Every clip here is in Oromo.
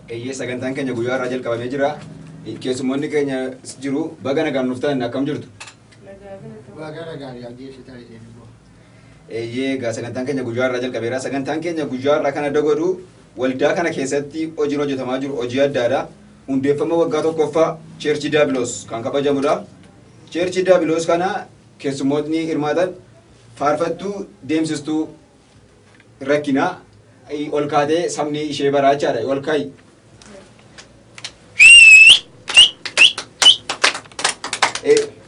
Eeyyee sagantaan keenya guyyaa irraa jalqabamee jira. Keessummoonni keenya jiru baga nagaan nuuf ta'an akkam jirtu? Baagara gaarii ajjeesitaa isheen immoo. Eeyyee egaa sagantaan keenya guyyaa irraa jalqabeera. Sagantaan keenya guyyaa irraa kana dagodhu waldaa kana keessatti hojiin hojjetamaa jiru hojii addaadha. Hundeeffama waggaa tokkoffaa Cheerchii Daabiloos kan kabajamudha. Cheerchii Daabiloos kana keessummootni hirmaatan faarfattuu deemsistuu rakkinaa ol kaatee sabni ishee baraa jechaadha ol ka'i.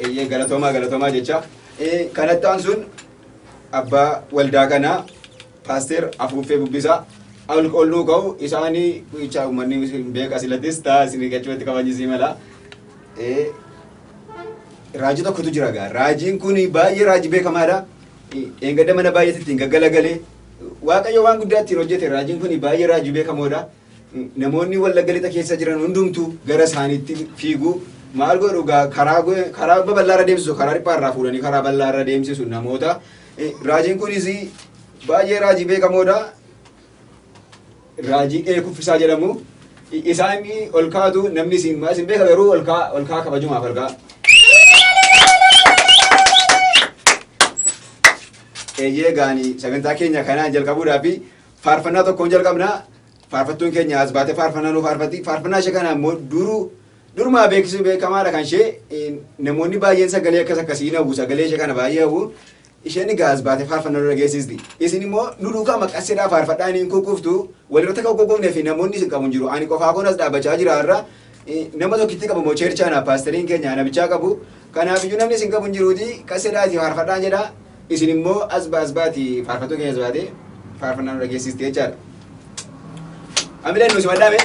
Eeyyee galatoomaa galatoomaa jecha kanatti aansuun abbaa waldaa kanaa paasteer afuuffee bubbisaa ol olluu ka'u isaanii jecha uummanni hin beeka silattis ta'a isin gachumatti kabajisii mala. Raajii tokkotu jira gaa raajiin kun baay'ee raajii beekamaadha. Dheengadda mana baay'eetti ittiin gaggalagalee Waaqayyo waan guddaa ittiin hojjete raajiin kun baay'ee raajii beekamoodha. Namoonni wallagga lixa keessa jiran hundumtuu gara isaaniitti fiigu. Maal godhu gaa karaa go- karaa babal'aa irra deemsisu karaa dhiphaa irraa fuudhanii karaa bal'aa irra deemsisu namoota. Raajiin kunis baay'ee raajii beekamoodha. Raajii ee kuffisaa jedhamu isaan ol kaatu namni isin maas hin beeka garuu ol kaa ol kaa kabajumaaf ol kaa. Eeyyee gaanii sagantaa keenya kanaan jalqabuudhaa fi faarfannaa tokkoon jalqabna. Faarfattuun keenya as baatee faarfannaa nu faarfatti. Faarfannaa ishee kana immoo duruu durumaa beeksisuu beekamaadha kan ishee namoonni baay'een sagalee akkas akkasii hin hawwu sagalee ishee kana baay'ee hawwu. Isheen egaa as baatee faarfannaa nu dhageessisdi. Isin immoo nu duukaa maqasseedhaa faarfadhaa inni hin kukkuftu. Walirratti akka kukkufnee fi namoonni isin qabu hin jiru. Ani qofaa koon as dhaabbachaa jira har'a. Eh, Nama tokkitti qabu moo cheerchaa naaf paastariin keenya ana bichaa qabu. Kanaaf iyyuu namni isin qabu hin jiruuti qasseedhaa isin faarfadhaa jedha. Isin immoo as ba- as baati faarfattuu keenya as baatee faarfannaa nu dhageessisti jechaadha. Amileen nu simadhaa mee?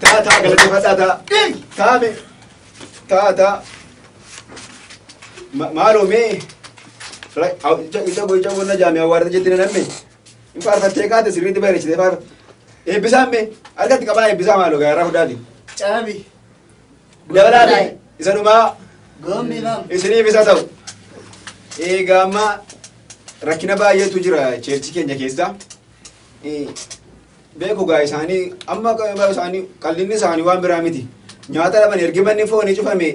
Taa taa galateeffadhaa taa. Taame. Taa taa. Ma- Maaloo mee. Ra- au- ija- Ija boo ija bonna jaamee awwaarra jetti na namme. Hin faarfattee kaate sirriitti bareechitee faarfa. Eebbisaan mee. Harkatti qabaa eebbisaa maaloo gaara hundaati. Caabi. Dabalaati isa dhumaa Goomni imam. isiniif isa ta'u. Egaa amma rakkina baay'eetu jira cheerchi keenya keessa. Eh, Beeku gaa isaanii amma gaa isaanii qallinni isaanii waan biraa miti. Nyaata dhaban ergi manni foonii cufame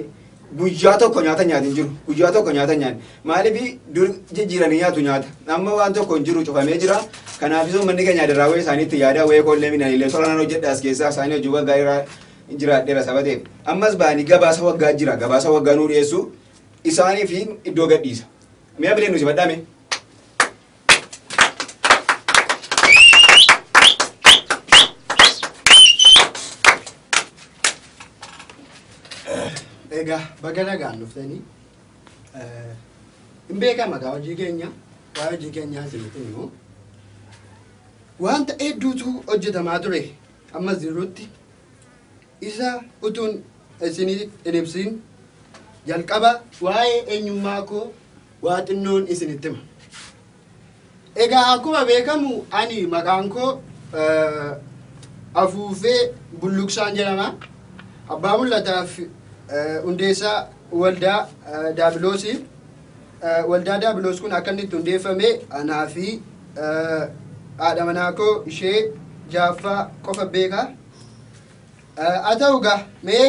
guyyaa tokko nyaata nyaati hin jiru. Guyyaa tokko nyaata hin nyaanne. Maaliif dur jijjiiranii nyaatu nyaata. Amma waan tokko hin jiru cufamee jira. Kanaafis manni keenya daraawee isaaniitti yaada wayee koollee midhaan illee soranaan hojjedha as keessaa isaanii hojii waggaa irraa jiraadheera saba ta'eef. Ammas ba'anii gabaasa waggaa jira. Gabaasa waggaa nuu dhiyeessu isaaniif iddoo gadhiisa. Mi'a bilee nu sifadhaa mee? Egaa baga nagaan dhuftanii eh, hin beekama egaa hojii keenya waa'ee hojii keenyaa isinitti himu. Wanta hedduutu hojjetamaa ture ammas jirutti Isa utuun isiniif hin ibsin jalqaba waa'ee eenyummaa koo waa xinnoon isinitti hima. Egaa akkuma beekamu ani maqaan koo Afuufee Bulluqsaan jedhama. Abbaa mul'ataaf hundeessaa waldaa Daabiloosii. Waldaa Daabiloos kun akka inni itti hundeeffame anaa fi haadha manaa koo ishee jaaffaa qofa beeka. Haa ta'u gaa mee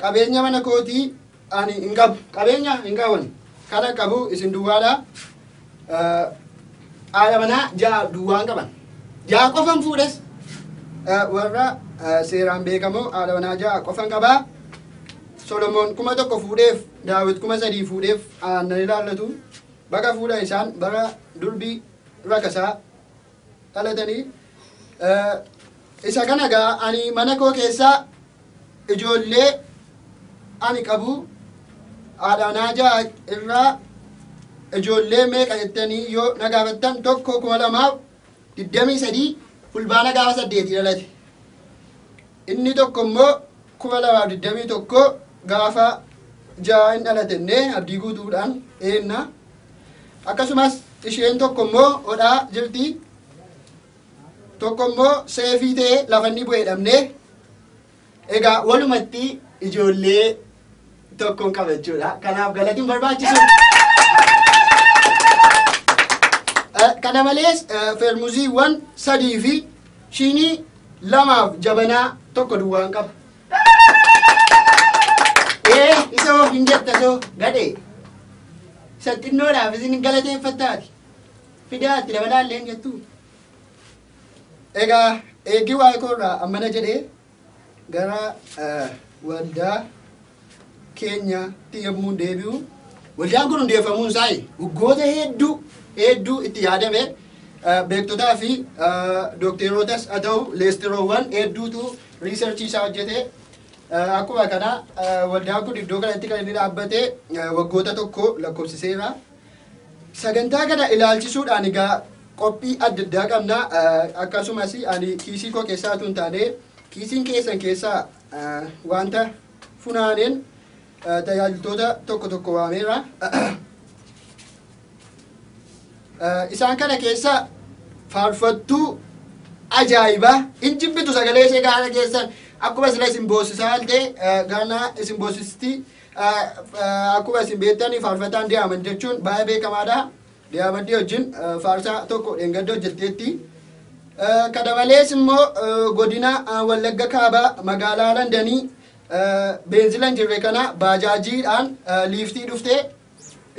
qabeenya mana kootii ani hin qabu. Qabeenya hin qabu ani. Kana qabu isin duwwaadha. Haadha manaa ja'a duwwaan qaban. Ja'a qofan fuudhes. Warra seeraan beekamoo haadha manaa ja'a qofan qabaa. Solomoon kuma tokko fuudheef, Daawit kuma sadii fuudheef aannan ilaallatu, baga fuudha isaan bara durbii rakasaa dhalatanii. Isa kana gaa ani mana koo keessaa ijoollee ani qabu haadhaanaa ja'a irraa ijoollee meeqa jettanii yoo na gaafattan tokko kuma lamaaf 23 Fulbaana gaafa 8 dhalate. Inni tokko immoo 2021 gaafa ja'a hin dhalatenne abdii guutuudhaan eenna. Akkasumas isheen tokko immoo odhaa jirti. Tokko immoo seefii ta'ee lafa inni bu'ee dhabnee Egaa walumatti ijoollee tokkoon qaba jechuudha. Kanaaf galatiin barbaachisu. Eh, Kana malees eh, feermuziiwwan sadii fi shinii lamaaf jabanaa tokko duwwaan qaba. Ee isa hoo hin jetta soo gadhee. Isa xinnoodhaaf isin galateeffattaati. Fidaatti dabalaallee hin jettuu. Egaa eegii waa'ee koo irraa ammana jedhee gara eh, waldaa keenyaatti yommuun deebi'u waldaan kun hundeeffamuun isaa waggoota hedduu hedduu itti yaadame eh, beektotaa fi eh, dookteerootas haa ta'u leestiroowwan hedduutu riisarchii isaa hojjete Eh, akkuma kana eh, waldaan kun iddoo kanatti kan inni dhaabbate eh, waggoota tokko lakkoofsiseera. Sagantaa kana ilaalchisuudhaan egaa qophii adda addaa qabna. Akkasumas ani kiisii koo keessaa utuu hin taane kiisiin keessan keessaa wanta funaaneen tajaajiltoota tokko tokko waameera. Isaan kana keessa faarfattuu ajaa'ibaa hin jibbitu sagalee ishee gaara keessan akkuma sila isin boossisaa ta'e gaana isin boossisti Akkuma isin beektanii faarfataan Diyaamand jechuun baay'ee beekamaadha. Diyaamandii wajjin faarsaa tokko dheengadda hojjetteetti. Kana malees immoo godina Wallagga Kaabaa magaalaa Landanii beenzila hin jirre kana baajaajiidhaan liiftii dhuftee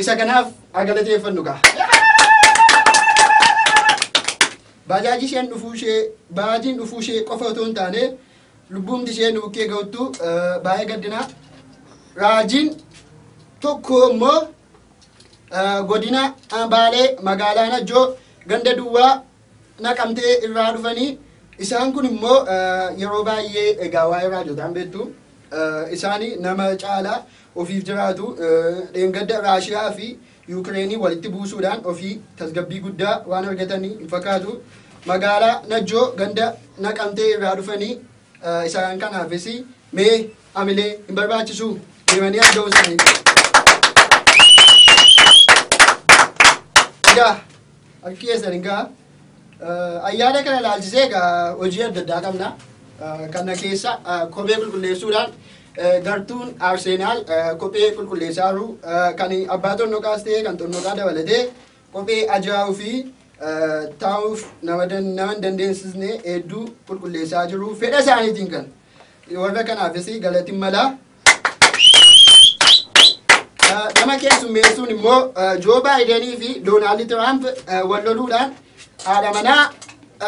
isa kanaaf agalateeffannu kaa. Baajaajii isheen dhufuu ishee baajiin dhufuu ishee qofa otoo hin taane Lubbuumti ishee nu bukkee ga'uttu baay'ee gaddina. Raajiin tokko immoo godina Baalee magaalaa Najjoo ganda duwwaa naqamtee irraa dhufanii isaan kun immoo yeroo baay'ee egaa waa'ee raajotaan beektu isaanii nama caalaa ofiif jiraatu dheengadda Raashiyaa fi Yuukireeniin walitti buusuudhaan ofii tasgabbii guddaa waan argatan hin fakkaatu. Magaalaa Najjoo ganda Naqamtee irraa dhufanii isaan kanaafis mee amilee hin barbaachisu deemanii argamu isaanii. Egaa harki keessan hin ga'a. Ayyaana kana ilaalchisee egaa hojii adda addaa qabna. Kana keessa kophee qulqulleessuudhaan gartuun Arseenaal kophee qulqulleessaa jiru. Kan abbaa xonnoqaas ta'ee kan xonnoqaa dabalatee kophee ajaa'uu fi taa'uuf nama hin dandeessisne hedduu qulqulleessaa jiru. Fedha isaaniitiin kan warra kanaafis galati mala. Eh, Nama keessummeessuun immoo eh, Joo Baayidanii fi Doonaald Tiraamp eh, wal loluudhaan haadha manaa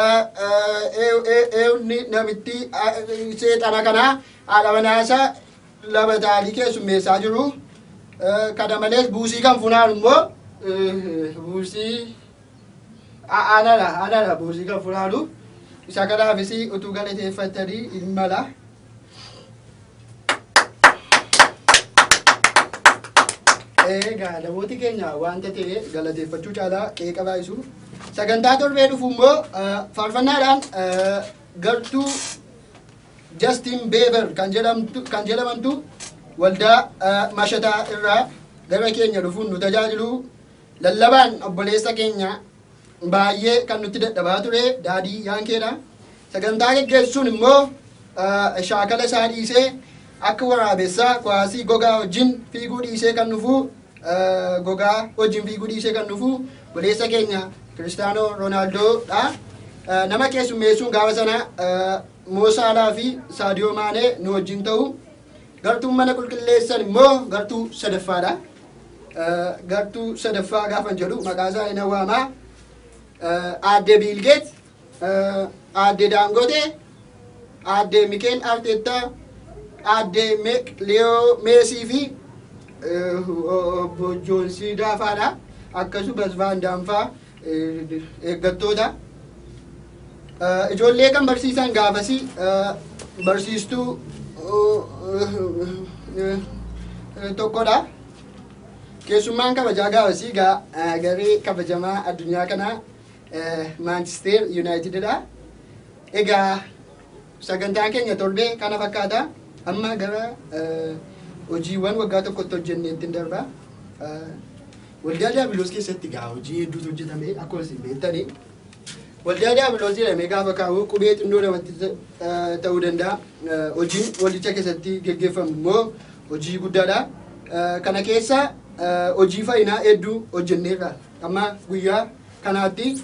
eh, eh, eew- ee- eewni namittii eh, seexana kanaa haadha manaa isaa lama ta'anii keessummeessaa jiru. Eh, Kana malees buusii kan funaan immoo eh, buusii a- anana anana buusii kan funaanu isa kanaafis utuu galateeffatanii hin mala. Egaa namooti keenya wanta ta'e galateeffachuu caalaa qeeqa baay'isu. Sagantaa torbee dhufu immoo eh, faarfannaadhaan eh, gartuu Justin Bieber kan jedhamtu kan jedhamantu waldaa eh, mashataa irraa gara keenya dhufuun nu tajaajilu lallabaan obboleessa keenya baay'ee kan nutti dadhabaa ture daadii yaankeedha. Sagantaa geggeessuun immoo shaakala isaa dhiisee akka waraabessaa kuwaasii gogaa wajjin fiiguu dhiisee kan dhufu gogaa wajjin fiiguu dhiisee kan dhufu buleessa keenya Kiristaanoo Roonaaldoo'dha. Nama keessummeessuun gaafa sana Moosaalaa fi Saadiyoo Maanee nu wajjin ta'u. Gartuun mana qulqulleessan immoo gartuu sadaffaadha. Gartuu sadaffaa gaafan jedhu maqaa isaa hin waamaa. Aadde Biilgeet, Aadde Daangote, Aadde Mikeel Arteettaa, Aadde Liyoo Meesii fi obbo Joonsii Daafaadha. Akkasumas Vaandaanfaa eeggattoota ijoollee kan barsiisan gaafasii barsiistuu tokkodha. Keessummaan kabajaa gaafasii garee kabajamaa addunyaa kanaa Maanchisteer Yuunaayitididha. Egaa Sagantaan keenya torbee kana fakkaata. Amma gara hojiiwwan waggaa tokkotti hojjenneetti hin darba. Waldaa Daabiloos keessatti gaa hojii hedduutu hojjetame akkuma isin beektanii. Waldaa Daabiloos jedhamee gaafa kaa'u qubee xinnoo namatti ta'uu danda'a. Hojiin waldicha keessatti geggeeffamu immoo hojii guddaadha. Kana keessa hojii fayyinaa hedduu hojjenneerra. Amma guyyaa kanaatti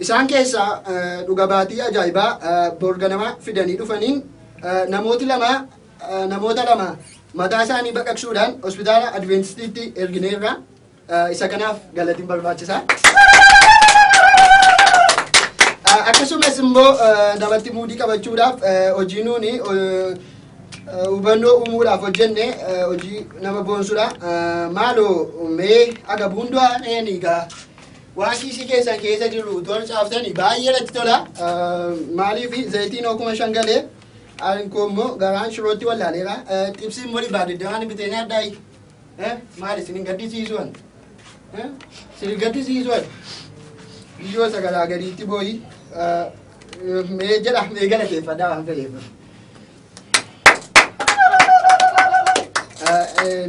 Isaan keessaa dhuga baatii ajaa'ibaa bor ganama fidanii dhufaniin namooti lama namoota lama mataa isaanii baqaqsuudhaan hospitaala Adveentistiitti ergineerra. Isa kanaaf galatiin barbaachisaa. Akkasumas immoo namatti muudii qabachuudhaaf hojii nuuni hubannoo uumuudhaaf hojjenne hojii nama boonsudha. Maaloo mee agabuun du'aa dheenii gaa Waan kiisii keessan keessa jiru tola caaftani baay'ee natti tola. Maaliif zayitiin hoo kuma shan galee ani koo immoo garaan shirootti wallaaleera. Xibsii immoo dhibbaa digdamaan bitee nyaadhaayi. Maali isin hin gaddisiisu ani. Isin hin gaddisiisu ani. Biyyoo sagalaa gadiitti booyi. Mee jedha mee galateeffadhaa waan fedheef.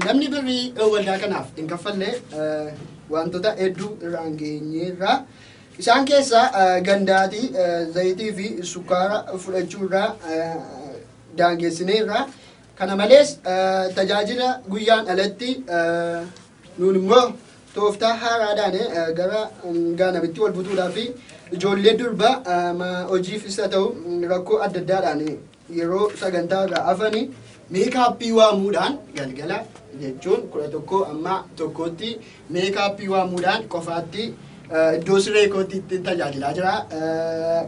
Namni birrii waldaa kanaaf hin kaffalle wantoota hedduu irraan geenyeerra. Isaan keessaa gandaati zayitii fi sukkaara fudhachuurraa daangeessineerra. Kana malees tajaajila guyyaan alatti Nuun immoo tooftaa haaraadhaan gara gaanamitti wal butuudhaa fi ijoollee durbaa hojiif isa ta'u rakkoo adda addaadhaan yeroo sagantaa irraa hafani meekaappii waamuudhaan galgala jechuun kudha tokko amma tokkootti meekaappii waamuudhaan qofaatti iddoo siree kootti ittiin tajaajilaa jira.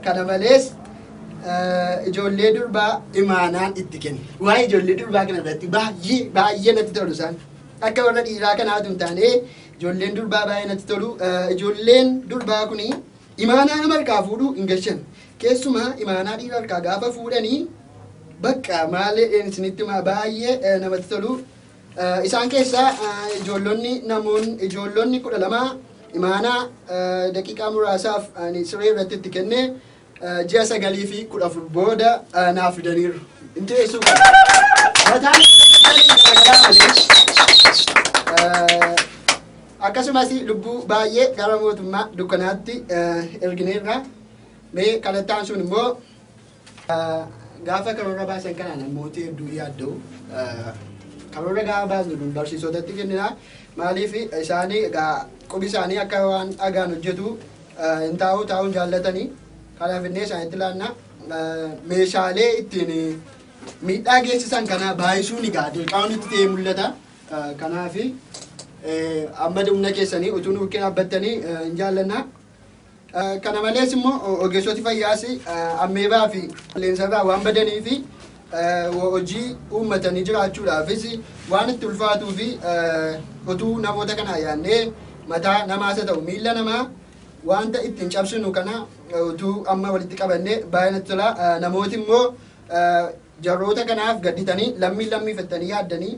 Kana malees ijoollee durbaa imaanaan itti kenna. Waa'ee ijoollee durbaa kana irratti baay'ee baay'ee natti tolu isaan. Akka warra dhiiraa kanaa tun taanee ijoolleen durbaa baay'ee natti tolu. Ijoolleen durbaa kun imaanaa nama harkaa fuudhuu hin gashan. Keessumaa imaanaa dhiira harkaa gaafa fuudhanii bakka maalee isinitti maa baay'ee namatti tolu. Isaan keessaa ijoollonni namoonni ijoollonni kudha lama imaanaa daqiiqaa muraasaaf ani siree irratti itti kenne ji'a sagalii fi kudha afur booda naaf fidaniiru. Hin teessuu qaba. Mataan garaagaraa malee akkasumas lubbuu baay'ee gara mootummaa dukkanaatti ergineerra. Mee kalattaan sun immoo gaafa karoora baasan kana namooti hedduu yaadda'u. Karoora gaafa baasnu kun barsiisotatti kennina. Maaliif isaanii egaa qubi isaanii akka waan dhagaan hojjetu hin taa'uu taa'uu hin jaallatanii kanaa finnee isaanitti laanna meeshaalee ittiin miidhaa geessisan kana baay'isuun egaa dirqaawwan itti ta'ee mul'ata kanaaf amma humna keessanii utuu nu bukkee dhaabbattanii hin jaallanna. Kana malees immoo ogeessoti fayyaas ammeebaa fi qilleensarraa waan badanii fi hojii uummatanii jiraachuudhaafis waan itti ulfaatuu fi utuu namoota kanaa yaannee mataa namaas haa ta'u miilla namaa wanta ittiin cabsinu kana utuu amma walitti qabannee baay'ee natti tola. Namooti immoo jarroota kanaaf gadditanii lammii lammii fettanii yaaddanii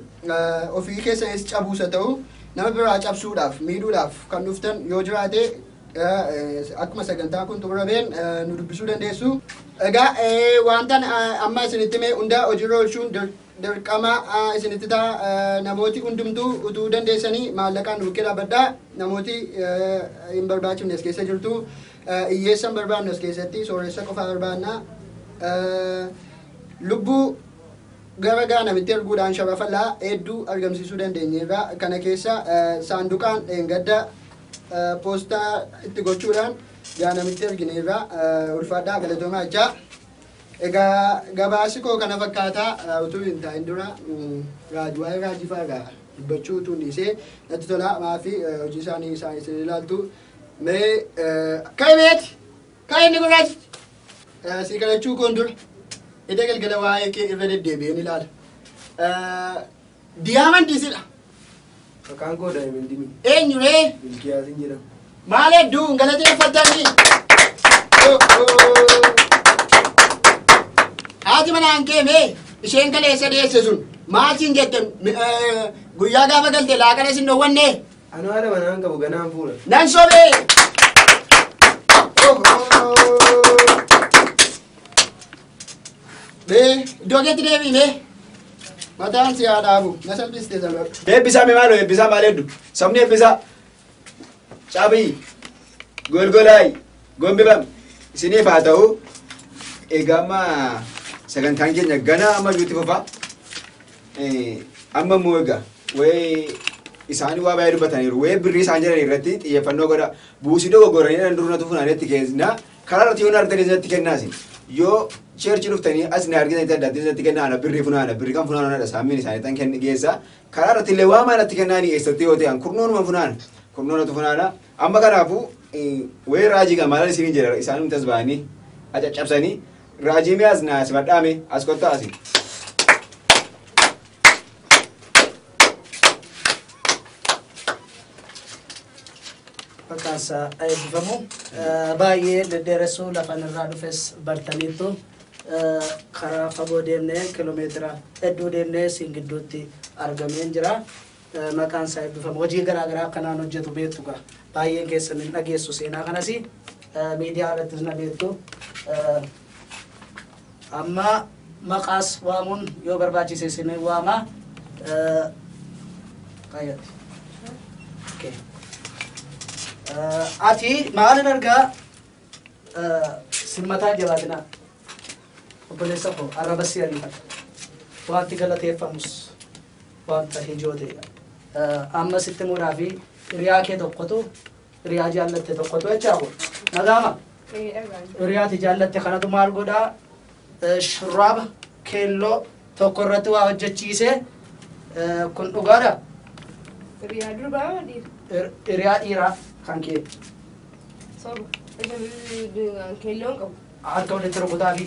ofii keessanis cabuus haa ta'u nama biraa cabsuudhaaf miidhuudhaaf kan dhuftan yoo jiraate Akkuma sagantaan kun xumurameen nu dubbisuu dandeessu. Egaa wantan amma isinitti mee hundaa hojiirra oolchuun dirqama isinitti ta'a namooti hundumtuu utuu dandeessanii maallaqaan nu bukkee dhaabbadhaa namooti hin barbaachifne as keessa jirtu hiyyeessa hin barbaannu as keessatti sooressa qofaa barbaanna lubbuu gara gaanamitti erguudhaan sharafallaa hedduu argamsiisuu dandeenyeerra kana keessa saanduqaan dheengadda Poostaa itti gochuudhaan yaa namitti ergineerra ulfaadhaa galatoomaa jechaa egaa gabaasi koo kana fakkaataa utuu hin taa'in dura raajii waa'ee raajii fa'aa dubbachuu utuu dhiisee natti tolaa maafi hojii isaanii isaan isin ilaaltu mee ka'i beeti ka'i inni gurraachi sii kadhachuu koon dura ida galgala waa'ee kee irra deddeebi'een ilaala. Diyaamandii sidha. Maqaan koo Daayimandii miti. Eenyu ree? Milkiyaasin jedhama. Maal hedduu hin galateeffatanii? Haati manaan kee mee isheen kaleessa deesse sun maal siin jette Mi- eh, guyyaa gaafa galte laaqana sin dhowwanne Anoo haadha manaan qabu ganaan fuudha. nan sobee. Mee iddoo keetti deebii mee. Mataan si haa dhaabu. Na salphiste sana. Eebbisaa mee maaloo eebbisaa maal heddu? Sabni eebbisaa. Caabii. Golgolaay. Gombifam. Isiniif haa ta'u. Egaa amma sagantaan keenya ganaa amma iyyuutti fufaa. Eh, Amma immoo egaa wayii isaan waa baay'ee dubbataniiru. Wayii birrii isaan jedhan irratti xiyyeeffannoo godha. Buusii dogoggoranii dhan durna tufuun adeetti keessna. Karaa irratti yoo na argitanii isinitti kennaa isin. Yoo cheerchi dhuftanii as na argitanii adda addaa isinitti kennaa ana birrii funaana birrii kan funaana anadha saammiin isaanii tan kenni geessa. Karaa irratti illee waa maalatti kennaa ni eessatti yoo ta'an kurnoonuma funaana. Kurnoonatu funaana. Amma kanaafuu wayii raajii kan maalan isiniin jedha isaan humtas ba'anii acaccabsanii raajii mi'aas na simadhaame as kottaa asi. Maqaansaa eebbifamu. Baay'ee deddeeressuu lafan irraa dhufes bartaniittu karaa fagoo deemnee kilomeetira hedduu deemnee siin gidduutti argameen jira. Maqaansaa eebbifamu. Hojii garaa garaa akkanaan hojjetu beektu gaa. Baay'een keessan hin dhageessu seenaa kanasi. Miidiyaa irrattis na beektu. Amma maqaas waamuun yoo barbaachise isin waama. Eh, Qayyatti. Okay. Eh, Ati maalin argaa eh, simmataa jabaatinaa obboleessa koo arraba si ariifata wanti galateeffamus wanta hijoo ta'edha. Eh, Amma sitti muudhaa fi hiriyaa kee tokkotu hiriyaa jaallatte tokkotu jechaa kun nagaama hiriyaati jaallatte kanatu maal godhaa shurraaba keelloo tokko irratti waa hojjechiise kun dhugaadha Riyaa durbaa waliif hiriyaa dhiiraa kan kee soba. Isa keelloon qabu. Harka walitti rukutaafi.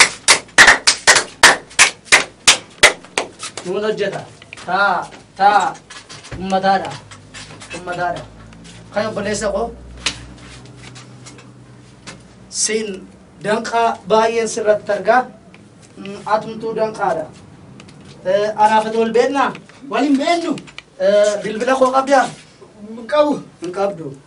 Nuun hojjeta. Taa, taa. Ummataadha. Ummataadha. Kan obboleessa koo. Siin danqaa baay'een sirratti argaa. Mm, Atumtuu danqaadha. Eh, Anaaf ati wal beeknaa? Waliin beennu. Eh, Bilbila koo qabdaa? Qabu. Hin qabdu.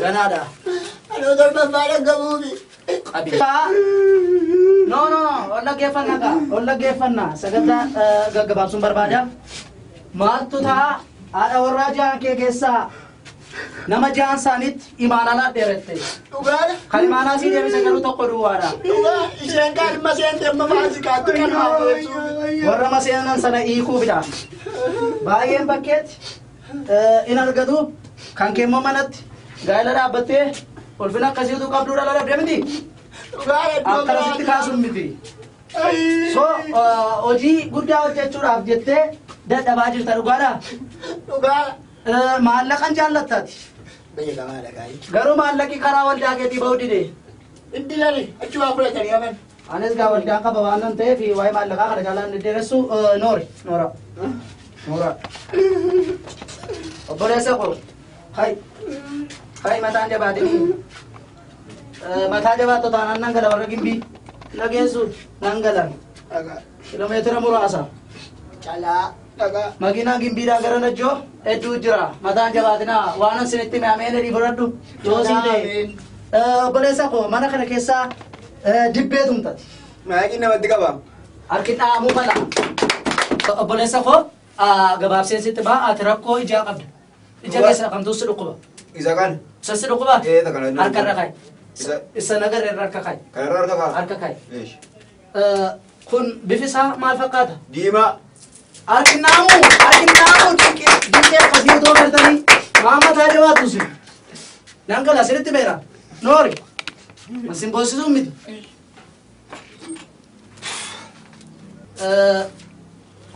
Ganaadha. Anoo torbaffaa dhaggamuufi. Qabi. No, no, no. Ol dhaggeeffannaa kaa. Ol dhaggeeffannaa. Sagantaa eh, gaggabaabsuun barbaada. Maaltu ta'a? Haadha warraa jahan kee keessaa nama jahan isaaniitti imaanalaa dheerette. Dhugaadha. Kan imaanaa sii deebise garuu tokko duwwaadha. Dhugaa isheen kaadhima seente amma maasikaatti kan haabeessuufi. Warra maseenan sana hiikuufidha. Baay'een bakkeetti in argatu kan kee immoo manatti gaa'ela dhaabbattee ulfina akkasii utuu qabduu dhala dhabdee miti akkanasitti kaasuun miti so hojii guddaa hojjechuudhaaf jettee dadhabaa jirta dhugaadha maallaqan jaallattaati garuu maallaqi karaa waldaa keetii ba'uu dide Anis gaa waldaan qaba waan nan ta'eef waa'ee maallaqaa kana jaalaan deddeeressu noori noora noora obboleessa koo hay hay mataan jabaatinii mataa jabaattu taanaan nan gala warra gimbii na geessu nan gala kilomeetira muraasa Calaa. dhagaa. Makiinaan gimbiidhaan gara najjoo hedduu jira. Mataan jabaatinaa waanan sinitti hime ameen jedhii fudhadhu. Yoo sii ta'e. Ameen. Eh, Obboleessa koo mana kana keessaa eh, dibbee tumtati. Maayikiin namatti qaba. Harki dhahamuu mala. Obboleessa koo ah, gabaabseen sitti ba'a ati rakkoo ijaa qabda. Ija keessa kamtuu si dhukkuba. Isa kan. Isa si dhukkuba? Eh, isa kana inni Harka irra dhukkuba. kaa'i. Isa- Isa nagarra irra harka kaa'i. Kanarra harka ka'a. Harka kaa'i. Eesh. Kun bifi isaa maal fakkaata? Diimaa. Arginaamu arginaamu dinqii dinqii akkasii otoo galtanii maama taa jabaatu si. Nan gala sirritti beera. Noori. Masin boosisuu miti.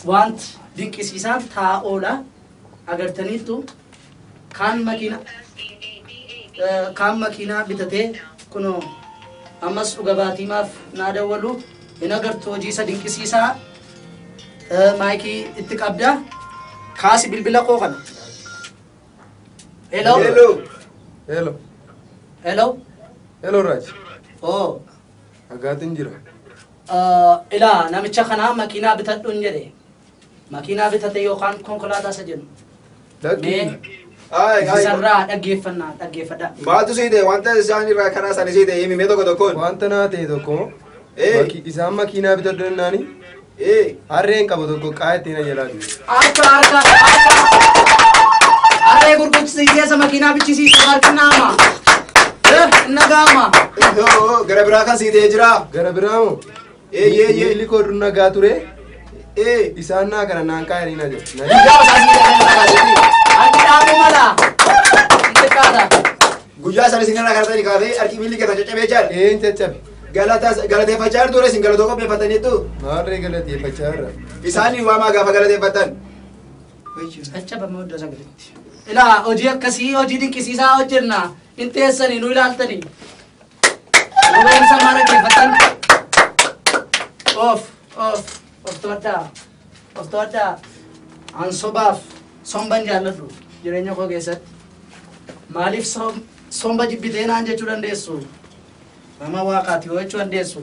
Wanti dinqisiisaan taa'oodha. agartaniittu kaan makiina kaan makiinaa bitatee kunoo ammas dhuga baatiimaaf naa dawwalu hin agartu hojii isa dinqisiisaa eh, maayikii itti qabda kaasi bilbila koo kana hello Hello. Hello. hello Hello Raj. oh Agaatiin jira. eh, ilaa namicha kanaa makiinaa bitadhuun jedhe Makiinaa bitate yookaan konkolaataa isa jedhu. Mee Ay, ay. isarraa dhaggeeffannaa dhaggeeffadha. Maaltu sii ta'e wanta isaan irraa karaa isaanii sii ta'e himi mee tokko tokkoon. Wanta naa ta'e tokko Ee. maki- isaan makiinaa bitadhu jennaani Ee. harreen qabu tokko qaa'ee ittiin ayyalaa jiru. Harka harka harka. Harree gurgursiiseessa makiinaa bichisiisu harki naama. Nagaama. Yoo, Gara biraa kan sii ta'e jira. Gara biraa moo? Eeyyee eeyyee illi koo dur nagaa ture. Ee isaan naa kana naan kaayanii na jedhe. Na jedhe. Guyyaa isaanii irraa kan kaasee harki dhaabuu mala. Xiqqaadha. Guyyaa isaanii isin irraa kaasanii kaasee harki miilli keessan caccabee jaal. Ee hin caccabe. Galataa galateeffachaa jirtu isin galatoo qopheeffataniittu. Maarree galateeffachaa irra. Isaanii waamaa gaafa galateeffatan. Caccabama iddoo sagalitti. Ilaa hojii akkasii hojii dinqisiisaa hojjenna. Hin teessanii nu ilaaltanii. Goromsa mara kefatan. Of, of, of to'adhaa. Of to'adhaa. An sobaaf somban jaalladhu jireenya koo keessatti. Maaliif som- somba jibbitee naan jechuu dandeessu? Nama waaqaati yoo jechuu dandeessu.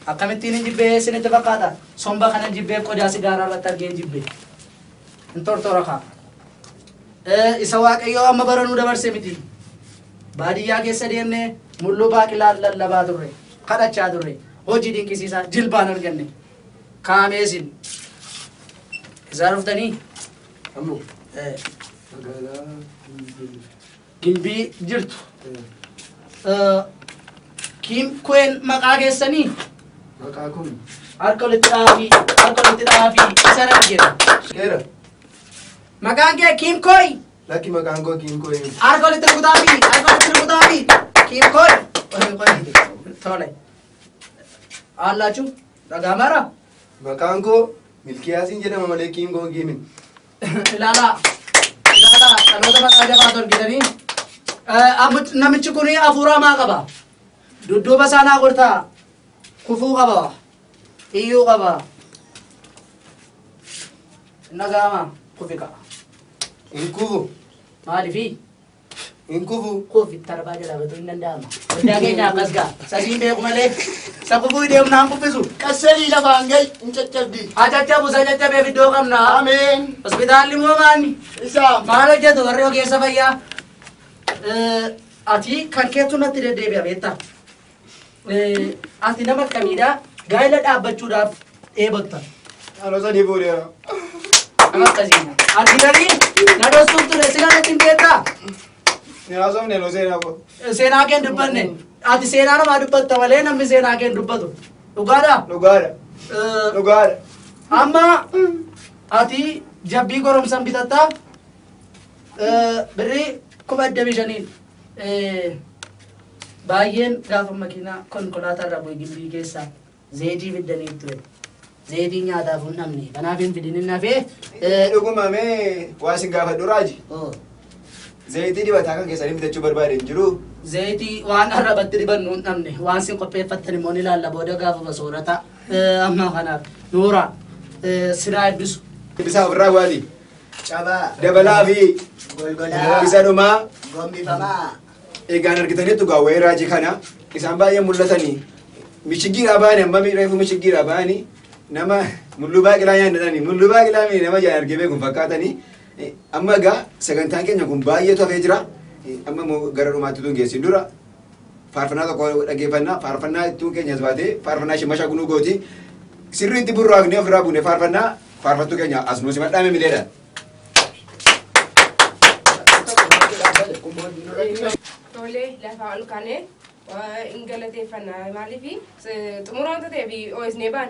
Akkamittiin hin jibbee isinitti fakkaata? Somba kana jibbee qodaa sigaaraa irratti argee hin jibbee. Hin tortora kaa. Eh, Isa waaqayyoo amma baranuu dabarse miti. Baadiyyaa keessa deemnee mulluu baaqilaa lallabaa turre, kadhachaa turre, hojii dinqisiisaa jilbaan arganne. Kaamee isin. Isaa dhuftanii? Ammoo Eh, magaalaa Gimbii. Gimbii jirtu. Eh, Eh, Kiim Kuween maqaa keessanii? Maqaa kun Harka walitti dhaafii, harka walitti dhaafii, isa nan jedha. dheera. Maqaan kee Kiim Kooyi? Lakki maqaan koo kiin koo eenyu? Harka walitti rukutaafi! Harka walitti rukutaafi! Kiin koodha! Qoy qoy tole. Haallaachu dhagaamaara? Maqaan koo Milkiyaasiin jedhama malee kiin koo kiin miti. Ilaalaa! Ilaalaa! Dhaloota maqaa jabaa torgitanii. Namichi kun hafuura hamaa qaba. Dudduuba isaa naa gortaa kufuu qaba. iyyuu qaba nagaama kufi ka'a hin kufu maalifi hin kufu kufi tarbaa jalaa batuu hin danda'ama hundaa keenya akkas ga'a sasiin beeku malee sababuu deemu naan kuffisu qasseelii lafaan ga'i hin caccabdi haa caccabu isa caccabeef iddoo qabna ameen hospitaalli moo maanni isaa maal hojjetu warri ogeessa fayyaa Eh, ati kan keetu natti deddeebi'a beektaa Ati nama akkamiidha? Gaa'ela dhaabbachuudhaaf dheebotta. Anoo sadii boodeera. Nama akkasiidha. Ati tarii na dhoostuuf ture sila natti hin beektaa? Ni haasofne nu seenaa koo. Seenaa kee hin dubbanne. Ati seenaa namaa dubbatta malee namni seenaa kee hin dubbatu. Dhugaadhaa? Dhugaadha. Eh, Dhugaadha. Amma ati jabbii goromsan bitatta eh, birrii kuma digdamii shaniin. Baay'een gaafa makiinaa konkolaataa irraa bu'e gimbii keessaa zayitii fiddaniif ture. Zayitii nyaataaf hin dhabne. Kanaaf hin fidin hin hafee. Dhuguma mee waa isin gaafadhu raaji. Zayitii dibataa kan keessanii bitachuu barbaade hin jiru. Zayitii waan arrabatti dibannu hin dhabne. Waan isin qopheeffattan immoo ni laalla booda gaafuma soorata. Amma kanaaf nuura sinaa heddusu. Isaa ofirraa waati. Cabaa. Dabalaa fi Golgolaa. isa dhumaa Gombifamaa. egaan argitaniittu gaa wayii raajii kana isaan baay'ee mul'atanii michigiidhaa baane amma reefu michigiidhaa baani nama mulluu baaqilaa nyaannadhani mulluu baaqilaa mii nama jaan argee beekun fakkaatanii Eh, amma egaa sagantaan keenya kun baay'eetu hafee jira Eh, amma immoo gara dhumaatti tun geessin dura faarfannaa tokko dhaggeeffannaa faarfannaa ittuu keenya as baatee faarfannaa ishee mashaa gunuu gooti sirriitti burraaqnee ofirraa buune faarfannaa faarfattuu keenya as nu simadhaa mimileedha. Tole lafa ol kaanee hin galateeffanna maaliif xumura wanta ta'eef OSN baan